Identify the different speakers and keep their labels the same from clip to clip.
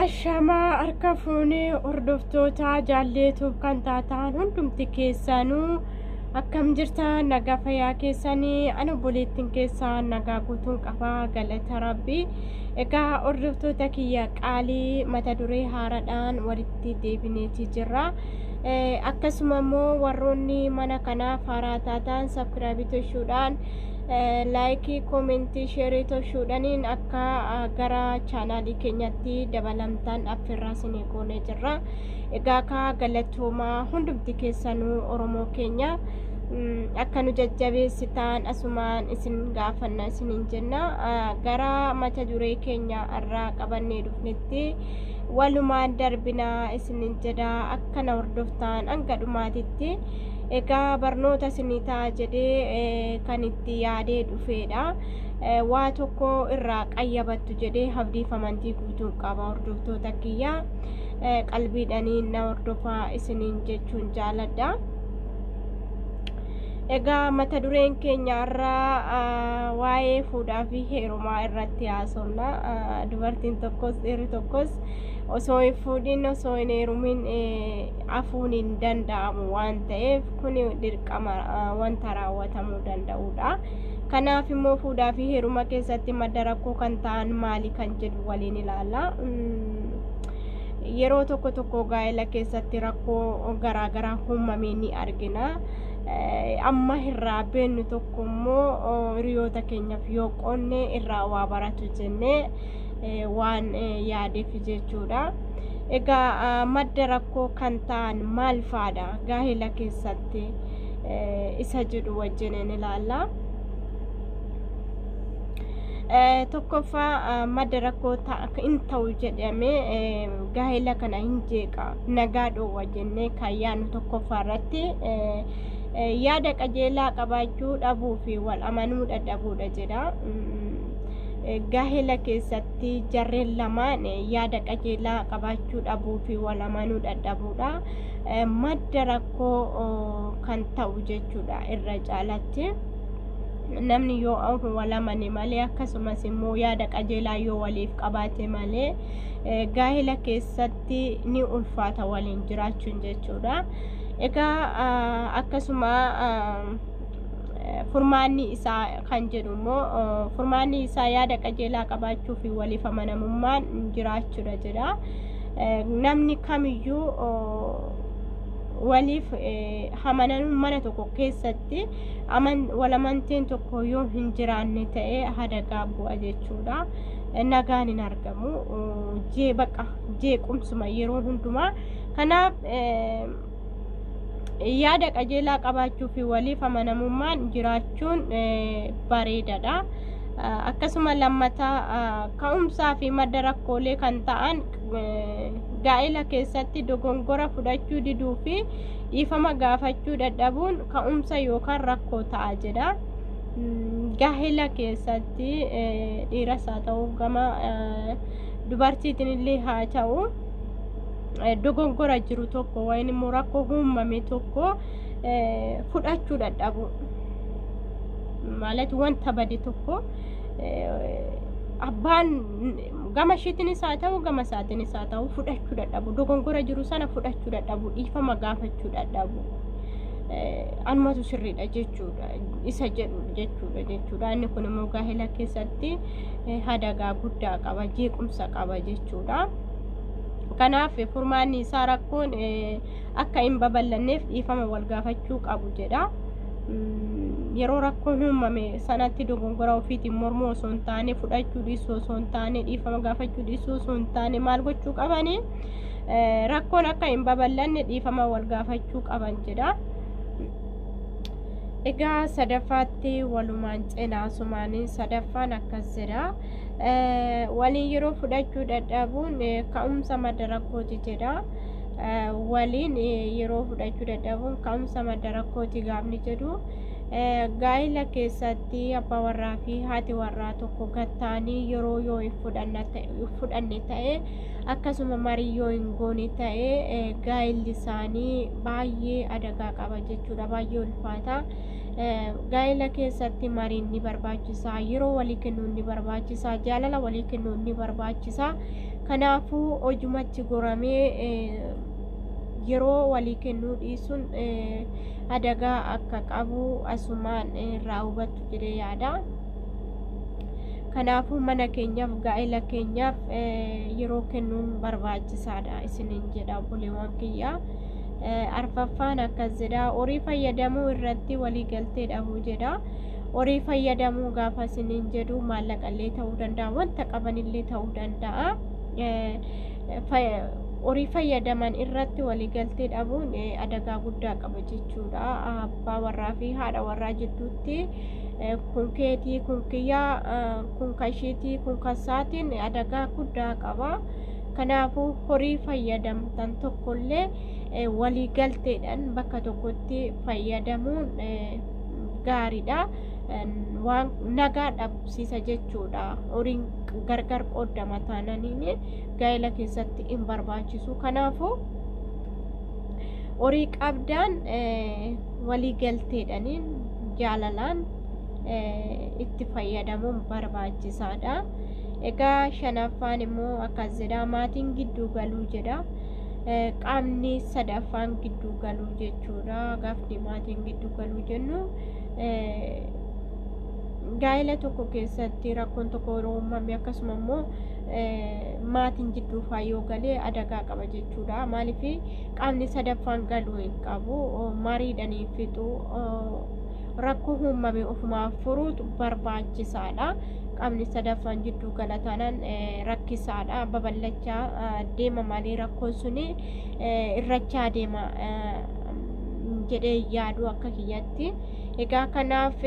Speaker 1: Ashamaa harka fuunee hordoftoota jaalleetuuf kan taataan hundumti keessanuu akkam jirta nagaa fayyaa keessanii ani obboleettiin keessaa nagaa guutuun qabaa galata rabbii egaa hordoftoota kiyya qaalii mata duree haaraadhaan walitti deebineeti jirra akkasuma immoo warroonni mana kanaaf haaraa taataan sabkiraabii toshuudhaan laayikii koomentii sheerii toshuudhaniin akka gara chaanaalii keenyatti dabalamtaan affirraa sinii goonee jirra egaa kaa galatoomaa hundumti keessanuu oromoo keenya akka nu jajjabeessitaan asumaan isin gaafanna isinin jenna gara mata duree keenya irraa qabannee dhufnetti walumaan darbinaa isinin jedha akka na hordoftaan hanga dhumaatitti Egaa barnoota isinii ta'a jedhee eh, kan itti yaadee dhufeedha. Eh, Waa tokko irraa qayyabattu jedhee abdiif amantii guutuun qaba hordoftoota kiyya. Eh, Qalbiidhaniin na hordofaa isiniin jechuun jaaladha. Egaa mata dureen keenya irraa ah, waa'ee fuudhaa fi heerumaa irratti haasofna. Ah, Dubartiin tokkos dhiirri tokkos osoo hin fuudhin osoo hin heerumin eh, afuun hin danda'amu waan ta'eef kun dirqama wanta raawwatamuu danda'udha. Kanaaf immoo fuudhaa fi heeruma keessatti madda rakkoo kan ta'an maali kan jedhu waliin ilaalla. Yeroo tokko tokko gaa'ela keessatti rakkoo garaagaraa uumamee ni argina. Amma irraa beennu tokko immoo hiriyoota keenyaaf yoo qoonne irraa waa baratu jennee waan yaadeef jechuudha. Egaa madda rakkoo kan ta'an maal faadha gaa'ela keessatti isa jedhu wajjin ni ilaalla. Tokkoffaa madda rakkoo hin ta'u jedhamee gaa'ela kana hin jeeqa nagaa dhoowwa jennee kan yaadnu tokkoffaa irratti yaada qajeelaa qabaachuu dhabuu fi wal amanuu dadhabuudha jedha. gaahela keessatti jarreen lamaan yaada qajeelaa qabaachuu dhabuu fi wal amanuu dadhabuudha madda rakkoo kan ta'u jechuudha irra caalatti namni yoo wal amane malee akkasumas immoo yaada qajeelaa yoo waliif qabaate malee gaahela keessatti ni ulfaata waliin jiraachuun jechuudha egaa akkasuma furmaanni isaa kan jedhu immoo furmaanni isaa yaada qajeelaa qabaachuu fi waliif amanamummaan jiraachuudha jedha. Namni kamiyyuu waliif hamanan mana tokko keessatti walamanteen tokko yoo hin jiraanne ta'e hadagaa bu'a jechuudha. Nagaan hin argamu. Jee baqa jeequmsuma yeroo hundumaa. Kanaaf yaada qajeelaa qabaachuu fi waliif amanamummaan jiraachuun bareedadha. Akkasuma lammata ka'umsaa fi madda rakkoolee kan ta'an gaa'ela keessatti dogongora fudhachuu diduu fi dhiifama gaafachuu dadhabuun ka'umsa yookaan rakkoo ta'a jedha. Gaa'ela keessatti dhiiras haa ta'u gama dubartiitiin illee haa ta'u. dogongora jiru tokko wayin immoo rakkoo uumame tokko fudhachuu dadhabu maalat wanta bade tokko abbaan gama ishiitinis haa ta'u gama isaatinis haa ta'u fudhachuu dadhabu dogongora jiru sana fudhachuu dadhabu dhiifama gaafachuu dadhabu anumatu sirriidha jechuudha isa jedhu jechuudha jechuudha inni kun immoo gaa'ela keessatti hadagaa guddaa qaba jeequmsa qaba jechuudha. Kanaaf furmaanni isaa rakkoon akka hin babal'anneef dhiifama wal gaafachuu qabu jedha. Yeroo rakkoon uumame sanatti dogongora ofiitiin mormuu osoo hin taane fudhachuu dhiisuu osoo hin taane dhiifama gaafachuu dhiisuu osoo hin taane maal gochuu qabani rakkoon akka hin babal'anne dhiifama wal gaafachuu qaban jedha. Egaa sadaffaatti walumaan cinaa sumaanii sadaffaan akkas jedha. waliin yeroo fudhachuu dadhabuun ka'umsa madda rakkooti jedha. Waliin yeroo fudhachuu dadhabuun ka'umsa madda rakkooti gaafni jedhu. Gaa'ila keessatti abbaa warraa fi haati warraa tokko gattaanii yeroo yoo hin fudhanne ta'e akkasuma marii yoo hin goone ta'e gaa'illi isaanii baay'ee adagaa qaba jechuudha baay'ee ulfaata. gaa'ela keessatti mariin ni barbaachisa yeroo walii kennuun ni barbaachisa jaalala walii kennuun ni barbaachisa kanaafuu hojumatti goramee yeroo walii kennuu dhiisuun adagaa akka qabu asumaan irraa hubattu jedhee yaada. Kanaafuu mana keenyaaf gaa'ela keenyaaf yeroo kennuun barbaachisaadha isiniin jedha obboleewwan kiyyaa. arfaffaan akkas jedha horii fayyadamuu irratti waliigaltee dhabuu jedha horii fayyadamuu gaafa isiniin jedhu maallaqallee ta'uu danda'a wanta qabanillee ta'uu danda'a horii fayyadaman irratti waliigaltee dhabuun adagaa guddaa qaba jechuudha abbaa warraa fi haadha warraa jidduutti kun keetii kun kiyyaa kun kashiitii kun kasaatiin adagaa guddaa qaba. Kanaafuu horii fayyadamtan tokkollee walii galteedhaan bakka tokkotti fayyadamuun gaariidha. Waan nagaa dhabsiisa jechuudha. Horiin gargar qoodama taananiin gaa'ela keessatti hin barbaachisu. Kanaafuu horii qabdaan walii galteedhaan jaalalaan itti fayyadamuun barbaachisaadha. Egaa shanaffaan immoo akkas jedha maatiin gidduu galuu jedha. Qaamni sadaffaan gidduu galuu jechuudha. Gaafni maatiin gidduu galuu jennu gaa'ela tokko keessatti rakkoon tokko yeroo uumame akkasuma immoo maatiin gidduu faa yoo galee adagaa qaba jechuudha. Maaliif qaamni sadaffaan galuu hin qabu mariidhanii fixu. rakkoo uumame ofumaan furuutu barbaachisaadha. Qaamni sadaffaan jidduu gala taanaan rakkisaadha. Babal'achaa deema malee rakkoon sun irrachaa deema jedhee yaadu akka kiyyatti. Egaa kanaaf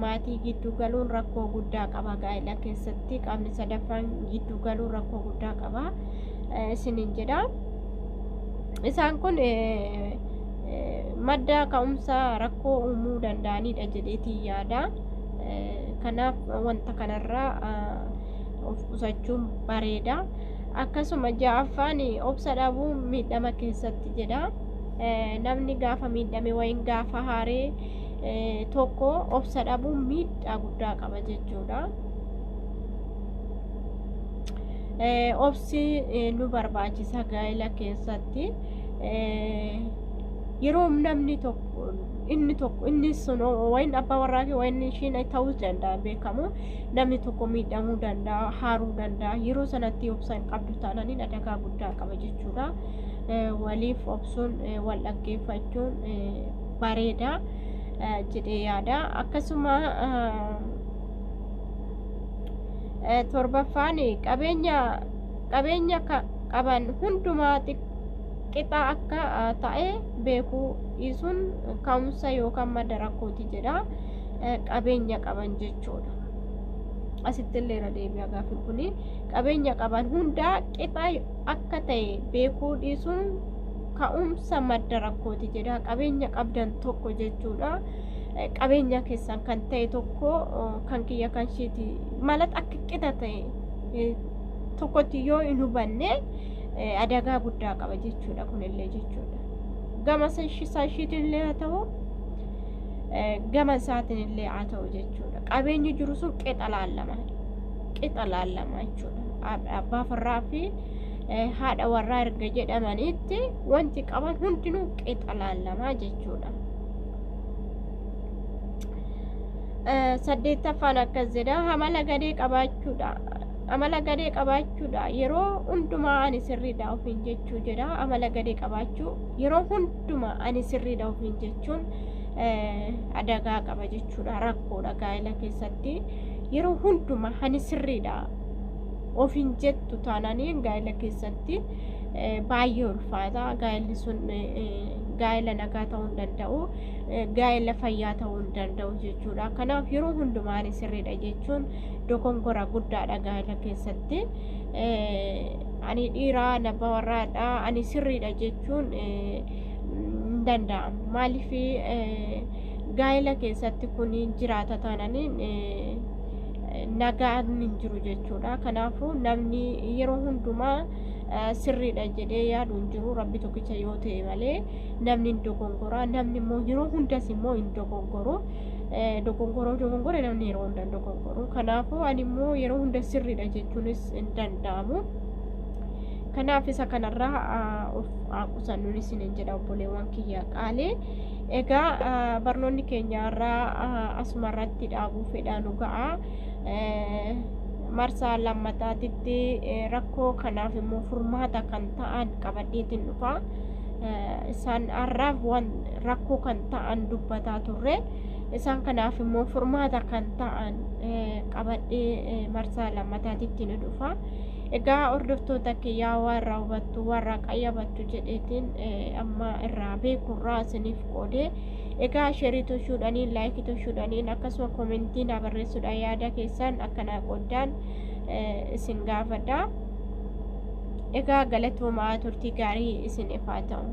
Speaker 1: maatii gidduu galuun rakkoo guddaa qaba gaa'ela keessatti qaamni sadaffaan gidduu galuun rakkoo guddaa qaba isiniin jedha. Isaan kun madda ka'umsa rakkoo uumuu danda'anidha jedheetiin yaada. Kanaaf wanta kanarraa of qusachuun bareeda. Akkasuma ja'affaan obsa dhabuu miidhama keessatti jedha. Namni gaafa miidhame wayiin gaafa haaree tokko obsa dhabuun miidhaa guddaa qaba jechuudha. Obsi nu barbaachisa gaa'ela keessatti. yeroo namni tokko inni tokko inni sun wayin abbaa warraa kee wayin ishiin ta'uu danda'a beekamu namni tokko miidhamuu danda'a haaruu danda'a yeroo sanatti obsa hin qabdu taanaan inni adagaa guddaa qaba jechuudha waliif obsuun wal dhaggeeffachuun bareeda jedhee yaada akkasuma torbaffaan qabeenya qabeenya qaban hundumaa qixaa akka ta'e beekuu dhiisuun ka'umsa yookaan madda rakkooti jedha qabeenya qaban jechuudha. Asitti illee irra deebi'a gaaffiin kun qabeenya qaban hundaa qixaa akka ta'e beekuu dhiisuun ka'umsa madda rakkooti jedha qabeenya qabdan tokko jechuudha. Qabeenya keessan kan ta'e tokko kan kiyya kan isheeti malat akka qixa ta'e tokkotti yoo hin hubanne eh, adagaa guddaa qaba jechuudha kunillee jechuudha gama sashi- sashiitillee haa ta'u eh, gama isaatinillee haa ta'u jechuudha qabeenyi jiru sun qixa laallama qixa laallama jechuudha Ab- abbaa farraa fi eh, haadha warraa erga jedhamaniitti wanti qaban hundinuu qixa laallama jechuudha Eh, saddeettaffaan akkas jedha hamala gadee qabaachuudha Amala gadee qabaachuudha. Yeroo hundumaa ani sirriidha ofiin jechuu jedha. Amala gadee qabaachuu yeroo hundumaa ani sirriidha ofiin jechuun adagaa qaba jechuudha. Rakkoodha gaa'ela keessatti. Yeroo hundumaa ani sirriidha ofiin jettu taanaan gaa'ela keessatti baay'ee ulfaata. Gaa'elli sun gaa'ela nagaa ta'uu hin danda'u. Gaa'ela fayyaa ta'uu hin danda'u jechuudha. Kanaaf yeroo hundumaa ani sirriidha jechuun dogonkora guddaadha gaa'ela keessatti. Ani dhiira nabba warraadha ani sirriidha jechuun hin danda'amu. Maaliif gaa'ela keessatti kun jiraata taananiin nagaan hin jiru jechuudha. Kanaafuu namni yeroo hundumaa sirriidha jedhee yaadu hin jiru rabbi tokkicha yoo ta'e malee namni hin dogongoraa namni immoo yeroo hundas immoo hin dogongoru. dogongoroo dogongore namni yeroo hunda hin dogongoru kanaafuu ani immoo yeroo hunda sirriidha jechuunis hin danda'amu kanaaf isa kanarraa of qusannuun isin hin jedha obboleewwan kiyya qaalee egaa barnoonni keenyaarraa asumarratti dhaabuu fedhaa nu ga'a marsaa lammataatitti rakkoo kanaaf immoo furmaata kan ta'an qabadheetiin dhufa. isaan har'aaf waan rakkoo kan ta'an dubbataa turre isaan kanaaf immoo furmaata kan ta'an qabadhee marsaa lammataatitti ni dhufa. Egaa hordoftoota kiyyaa warra hubattu warra qayyabattu jedheetiin amma irraa beekurraa isiniif qoodee egaa sheerii toshuudhaanii laayikii toshuudhaanii akkasuma koomentii naa barreessuudhaan yaada keessan akkanaa qoddaan isin gaafadha. Egaa galatoomaa turtii gaarii isin ifaa ta'u.